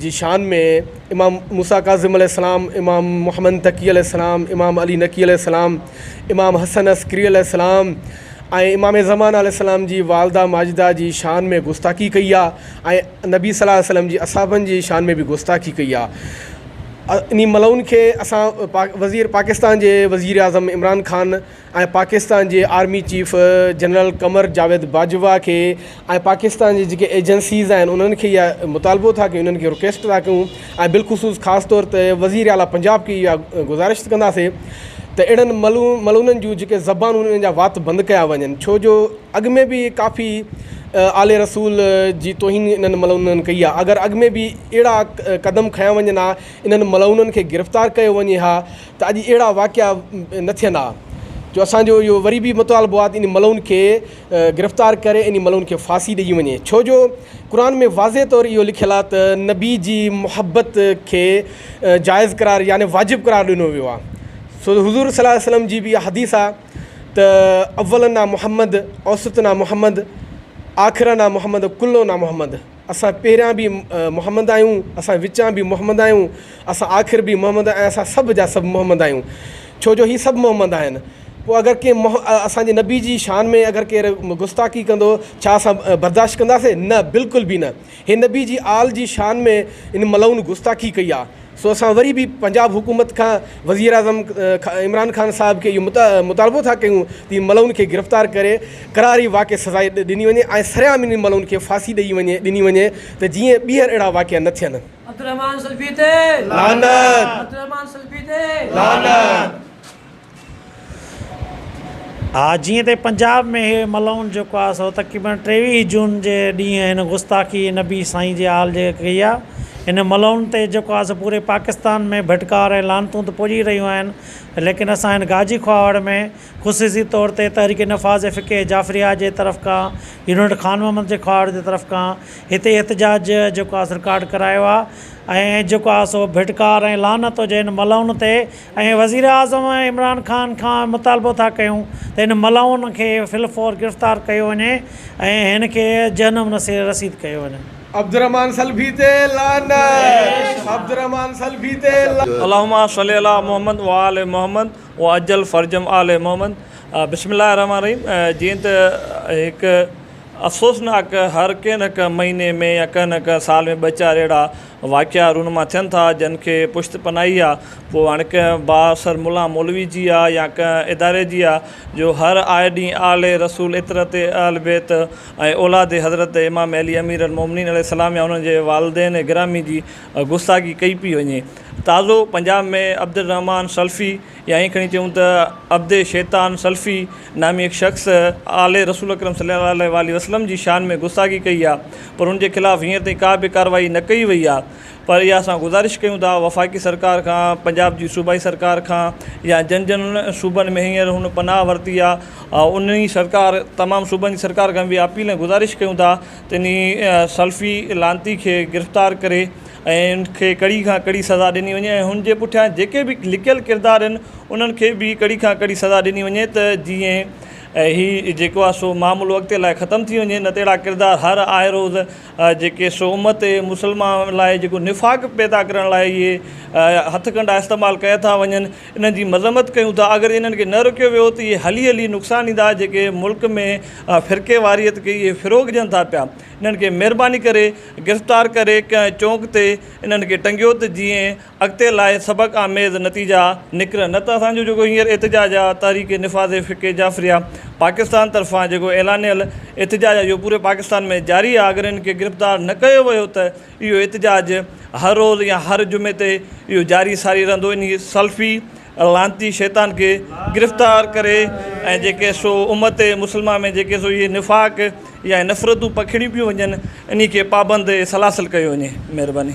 جي شان ۾ امام موسيٰ ڪاظم عليه السلام، امام محمد تقي عليه السلام، امام علي نقي عليه السلام، امام حسن عسڪري عليه السلام ۽ امام زمان عليه السلام جي والده ماجده جي شان ۾ گستاخي ڪئي آهي ۽ نبي صلي الله عليه وسلم جي اصحابن جي شان ۾ به گستاخي ڪئي آهي انهي ملعون کي اسان وزير پاڪستان جي وزيراعظم عمران خان ۽ پاڪستان جي army chief general Qamar Javed Bajwa کي ۽ پاڪستان جي جيڪي ايجنسيز آهن انهن کي اها مطالبو ٿا ڪيون انهن کي رڪويسٽ ٿا ڪيون ۽ بالخصوص خاص طور تي وزير اعلٰي پنجاب کي اها گذارشت ڪنداسي ته اهڙن ملعونن جون جيڪي زبانون انهن جا وات بند ڪيا وڃن ڇو جو اڳ ۾ به ڪافي آل رسول جي توهين انهن ملعونن ڪئي آهي اگر اڳ ۾ به اهڙا قدم کنيا وڃن ها انهن ملعونن کي گرفتار ڪيو وڃي ها ته اڄ اهڙا واقعا نه ٿين ها جو اسان جو اهو وري به مطالبو آهي ته انهن ملعون کي گرفتار ڪري انهن ملعون کي ڦاسي ڏئي وڃي ڇو جو قرآن ۾ واضح طور اهو لکيل آهي ته نبي جي محبت کي جائز قرار يعني واجب قرار ڏنو ويو آهي سو حضور صلي الله عليه وسلم جي به اها حديث آهي ته اولنا محمد اوسطنا محمد آخرنا محمد ڪلنا محمد اسان پهريان به محمد آهيون، اسان وچان به محمد آهيون، اسان آخر به محمد ۽ اسان سڀ جا سڀ محمد آهيون، ڇو جو هي سڀ محمد آهن. پوء اگر ڪنهن اسان جي نبي جي شان ۾ اگر ڪير گستاخي ڪندو، ڇا اسان برداشت ڪنداسين؟ نه، بلڪل به نه. هي نبي جي آل جي شان ۾ ان ملعون گستاخي ڪئي آهي. سو اسان وري به پنجاب حڪومت کان وزيراعظم عمران خان صاحب کي اهو مطالبو ٿا ڪيون ته ملعون کي گرفتار ڪري ڪراري واقعي سزا ڏني وڃي ۽ سرعام انهن ملعون کي ڦاسي ڏئي وڃي ڏني وڃي ته جيئن ٻيهر اهڙا واقعا نه ٿين. عبدالرحمان سلفي تي لعنت. عبدالرحمان سلفي تي لعنت. ها جيئن ته پنجاب ۾ هي ملعون جيڪو آهي سو تقريبن ٽيويهه جون جي ڏينهن هن گستاخي نبي سائين جي آل جي ڪئي آهي هن ملعون تي جيڪو آهي سو پوري پاڪستان ۾ ڀٽڪار ۽ لعنتون ته پڄي رهيون آهن ليڪن اسان هن گاجي کهاوڙ ۾ خصوصي طور تي تحريڪ نفاذ فقه جعفريه جي طرف کان يونٽ خان محمد جي کهاوڙ جي طرف کان هتي احتجاج جيڪو آهي سو رڪارڊ ڪرايو آهي ۽ جيڪو آهي سو ڀٽڪار ۽ لعنت هجي هن ملعون تي ۽ وزيراعظم عمران خان کان مطالبو ٿا ڪيون ته هن ملعون کي في الفور گرفتار ڪيو وڃي ۽ هن کي جهنم نصير رسيد ڪيو وڃي. عبدالرحمان سلفي تي لعنت عبدالرحمان سلفي تي لعنت. اللهم صل علی محمد و آل محمد وعجل فرجهم آل محمد بسم الله الرحمٰن الرحيم جيئن ته هڪ افسوسناڪ هر ڪنهن نه ڪنهن مهيني ۾ يا ڪنهن نه ڪنهن سال ۾ ٻه چار اهڙا واقعا رونما ٿين ٿا، جن کي پشت پناهي آ، پوء هاڻ ڪنهن بااثر ملا مولوي جي آ يا ڪنهن اداري جي آ، جو هر آئي ڏينهن آل رسول عطرت اهل بيت ۽ اولاد حضرت امام علي امير المومنين عليه السلام يا انهن جي والدين گرامي جي گستاخي ڪئي پئي وڃي. تازو پنجاب ۾ عبدالرحمان سلفي يا ائين کڻي چئون ته عبد شيطان سلفي، نامي هڪ شخص آل رسول اڪرم صلي الله عليه واٰله وسلم جي شان ۾ گستاخي ڪئي آهي پر ان جي خلاف هينئر تائين ڪا به ڪارروائي نه ڪئي وئي آهي پر اها اسان گذارش ڪيون ٿا وفاقي سرڪار کان پنجاب جي صوبائي سرڪار کان يا جن جن صوبن ۾ هينئر هن پناهه ورتي آهي انهي سرڪار تمام صوبن جي سرڪار کان به اپيل ۽ گذارش ڪيون ٿا ته انهي سلفي لعنتي کي گرفتار ڪري ۽ ان کي ڪڙي کان ڪڙي سزا ڏني وڃي ۽ هن جي پٺيان جيڪي به لڪيل ڪردار آهن انهن کي به ڪڙي کان ڪڙي سزا ڏني وڃي ته جيئن هي جيڪو آهي سو معاملو اڳتي لاء ختم ٿي وڃي نه ته اهڙا ڪردار هر آئي روز جيڪي سو امت مسلمان لاء جيڪو نفاق پيدا ڪرڻ لاء اهي هٿ ڪنڊا استعمال ڪيا ٿا وڃن انهن جي مذمت ڪيون ٿا اگر انهن کي نه روڪيو ويو ته اهي هلي هلي نقصان ڏيندا جيڪي ملڪ ۾ فرقيواريت کي اهي فروغ ڏين ٿا پيا انهن کي مهرباني ڪري گرفتار ڪري ڪنهن چونڪ تي انهن کي ٽنگيو ته جيئن اڳتي لاء سبق آميز نتيجا نڪرن نه ته اسان جو جيڪو هينئر احتجاج آ تحريڪ نفاذ فقه جعفريه پاڪستان طرفان جيڪو اعلانيل احتجاج آ اهو پوري پاڪستان ۾ جاري آ اگر انهن کي گرفتار نه ڪيو ويو ته اهو احتجاج هر روز يا هر جمعي تي اهو جاري ساري رهندو انهي سلفي لعنتي شيطان کي گرفتار ڪري ۽ جيڪي سو امت مسلمه ۾ جيڪي سو اهي نفاق يا نفرتون پکيڙيون پيون وڃن انهي کي پابند سلاسل ڪيو وڃي مهرباني.